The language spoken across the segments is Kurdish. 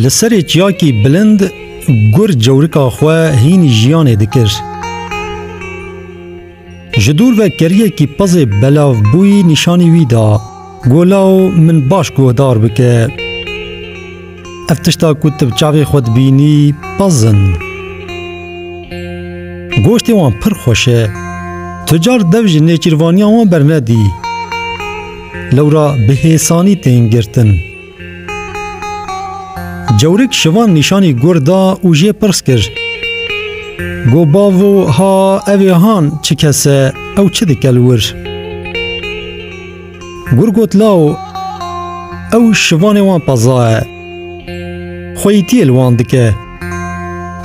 Li serê çiyakî bilind gur cewrika xwe hînî jiyanê dikir. Ji dûr ve keriyekî pezê belav bûyî nîşanî wî da. Golaw min baş guhdar bike. Ev tişta ku tu bi çavê xwe dibînî pez in. Goştê wan pir xweş e. Tu car dev ji nêçîrvaniya wan bernedî. Lewra bi hêsanî tên girtin. Cewrik şivan nîşanî gur da û jê pirs kir. Go bavo ha evê han çi kes e, ew çi dike li wir? Gur got lao, ew şivanê wan peza e. Xweyîtiyê li wan dike.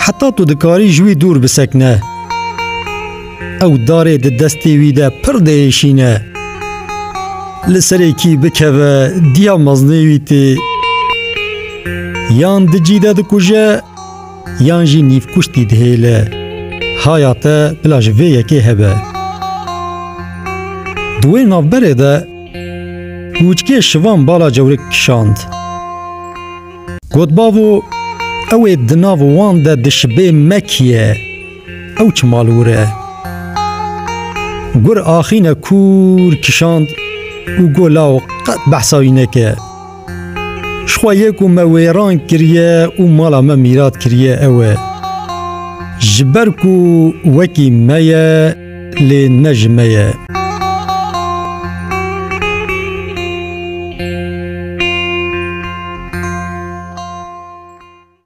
Heta tu dikarî ji wî dûr bisekine. Ew darê di destê wî de pir diêşîne. Li serê kî bikeve diya meznê wî tê. Yan di cî de dikuje yan jî nîvkuştî dihêle. Haya te bila ji vê yekê hebe. Di wê navberê de Kûçkê şivan bala cewrik kişand. Got bavo, ew ê di nav wan de dişibê mekiye, ew çi malwir e. Gur axîne kûr kişand û got law qet behsa wî neke. Ji xwe yê ku me wêran kiriye û mala me mîrat kiriye ew e. Ji ber ku wekî me ye, Lê ne ji me ye.